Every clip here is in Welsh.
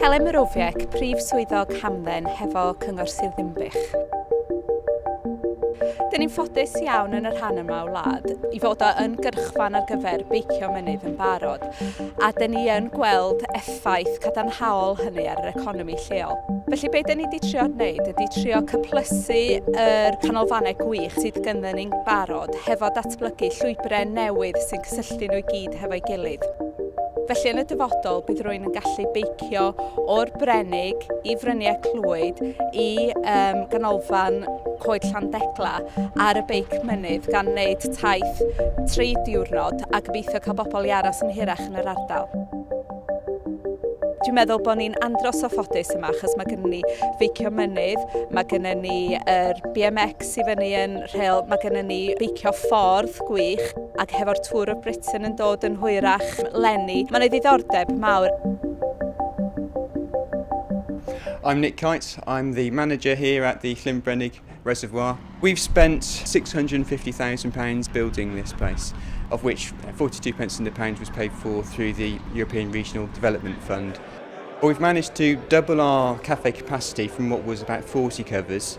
Helen Morowiec, Prif Swyddog Hamdden hefo Cyngor Sir Ddinbych. Dyn ni'n ffodus iawn yn y rhan yma o wlad i fod o yn gyrchfan ar gyfer beicio mynydd yn barod a dyn ni yn gweld effaith cadarnhaol hynny ar yr economi lleol. Felly be dyn ni wedi trio wneud ydy trio cyplysu yr canolfannau gwych sydd gyda ni'n barod hefo datblygu llwybrau newydd sy'n cysylltu nhw i gyd hefo'i gilydd. Felly yn y dyfodol bydd rwy'n yn gallu beicio o'r Brenig i Fryniau Clwyd i um, ganolfan Coed Llandegla ar y beic mynydd gan wneud taith tri diwrnod a gobeithio cael bobl i aros yn hirach yn yr ardal. Dwi'n meddwl bod ni'n andros o ffodus yma achos mae gennym ni feicio mynydd, mae gennym ni yr BMX Nes i fyny yn Rhyl mae gennym ni beicio ffordd gwych ac hefo'r Tour of Britain yn dod yn hwyrach 'leni mae 'na ddiddordeb mawr. I'm Nick Kites, I'm the manager here at the Llynbrennig Reservoir. We've spent £650,000 building this place, of which 42 pence in the pound was paid for through the European Regional Development Fund. We've managed to double our cafe capacity from what was about 40 covers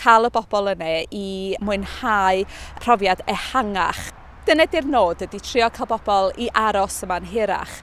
cael y bobl yne i mwynhau profiad ehangach. Dyna ydy'r nod, ydy trio cael bobl i aros yma'n hirach.